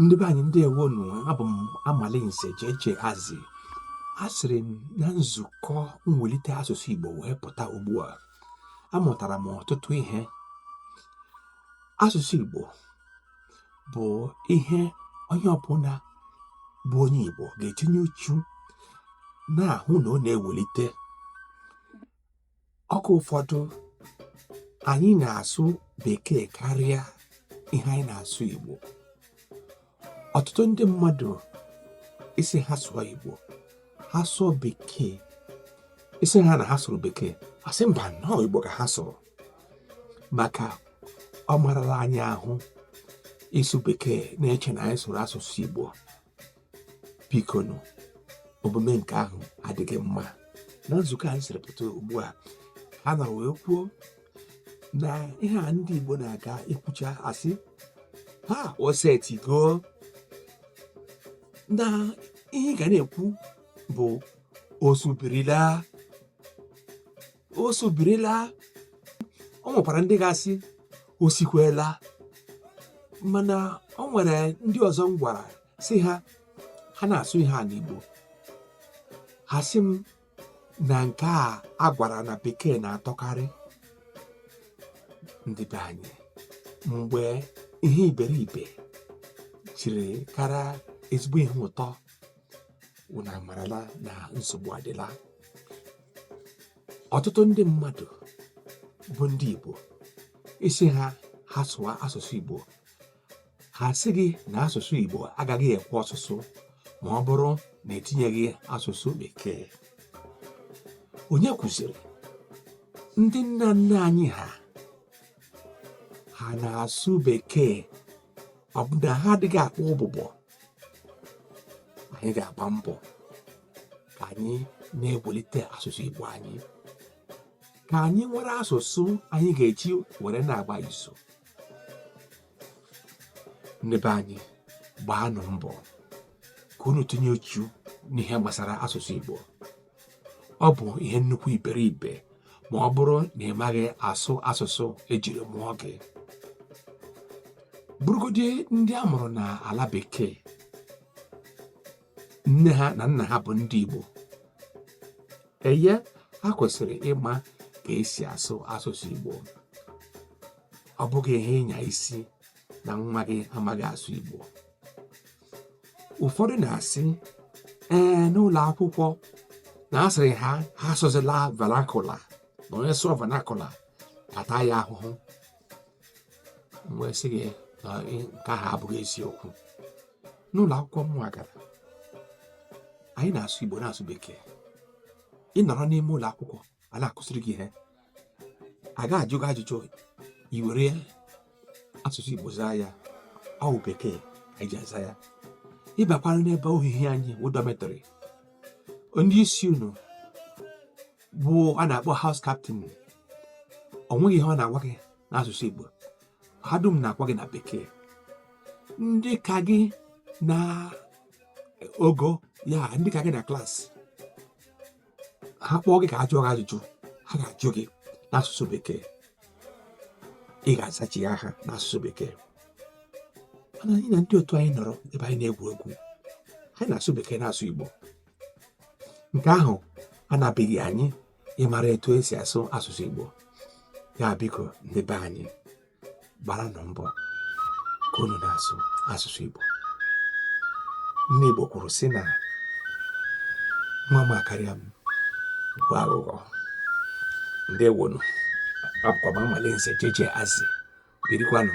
ndị be anyị ndeewonu abụ m amalinze jeje azi esiri m na nzukọ mwelite asụsụ igbo wee pụta ugbu a amụtara m ọtụtụ ihe asụsụ igbo bụ ihe onye ọbụla bụ onye igbo ga-etinye uchu na-ahụ na ọ na-ewelite oge ụfọdụ anyị na-asụ bekee karịa ihe anyị na-asụ igbo ọtụtụ ndị mmadụ ị sị ha sụọ igbo ha sụọ bekee ị sị ha na ha sụrụ bekee asị mba na ọ igbo ka ha sụrụ maka ọ marala anyị ahụ ịsụ bekee na-eche na anyị sụrụ asụsụ igbo bikonu omume nke ahụ adịghị mma na nzukọ anyị siri pụta ugbu a ha nọ wee kwuo na ihe a ndị Igbo na-aga ikwucha asị ha o setigo na ihe ị ga na-ekwu bụ o subirila o subirila ọ nwekwara ndị ga-asị o sikwela mana ọ nwere ndị ọzọ m gwara sị ha ha na-asụ ihe a n'Igbo ha sị m na nke a a gwara na bekee na-atọkarị ndị be anyị mgbe ihe iberibe jiri kara ezigbo ihe ụtọ unu amarala na nsogbu adịla ọtụtụ ndị mmadụ bụ ndị Igbo ị sị ha ha sụwa asụsụ Igbo ha sị gị na asụsụ Igbo agaghị ekwe ọsụsụ ma ọ bụrụ na etinyeghị asụsụ bekee onye kwuziri ndị nna nna anyị ha ha na-asụ bekee ọ bụ na ha adịghị akpa ụbụbọ anyị ga-agba mbọ ka anyị na-ewelite asụsụ Igbo anyị ka anyị nwere asụsụ anyị ga-eji were na-agba izu ndị be anyị gbaanụ mbọ ka unu tinye uchu n'ihe gbasara asụsụ Igbo ọ bụ ihe nnukwu iberibe ma ọ bụrụ na ị maghị asụ asụsụ ejiri mụọ gị bụrụgodi ndị a mụrụ na ala bekee nne ha na nna ha bụ ndị Igbo eye ha kwesịrị ịma ka esi asụ asụsụ Igbo ọ bụghị ihe ịnya isi na nwa gị amaghị asụ Igbo ụfọdụ na-asị ee n'ụlọ akwụkwọ na a sịrị ha ha asụzila vernacular na onye sụọ vernacular a taa ya ahụhụ m wee sị gị na nke ahụ abụghị eziokwu n'ụlọ akwụkwọ m gara anyị na-asụ igbo na-asụ bekee ị nọrọ n'ime ụlọ akwụkwọ a na-akụziri gị ihe a ga-ajụ gị ajụjụ i were asụsụ Igbo zaa ya ọ bụ bekee anyị ji aza ya ị bakwara n'ebe ohihi anyị wụ dormitory ndị isi unu bụ a na-akpọ house captain o nweghị ihe ọ na-agwa gị n'asụsụ Igbo ha dum na-agwa gị na bekee ndị ka gị na ogo ya ndị ka gị na class ha kpọọ gị ka ha jụọ gị ajụjụ ha ga-ajụ gị n'asụsụ bekee ị ga-azachi ya ha n'asụsụ bekee mana anyị na ndị otu anyị nọrọ ebe anyị na-egwu egwu anyị na-asụ bekee na-asụ igbo nke ahụ anabeghị anyị ịmara etu esi asụ asụsụ igbo ya biko ndị be anyị gbaranụ mbọ ka unu na-asụ asụsụ Igbo ndị Igbo kwuru sị na nwa m akarịa m bụ aghụghọ ndeewonụ abụkwa m Amalinze Jeje Azị birikwanụ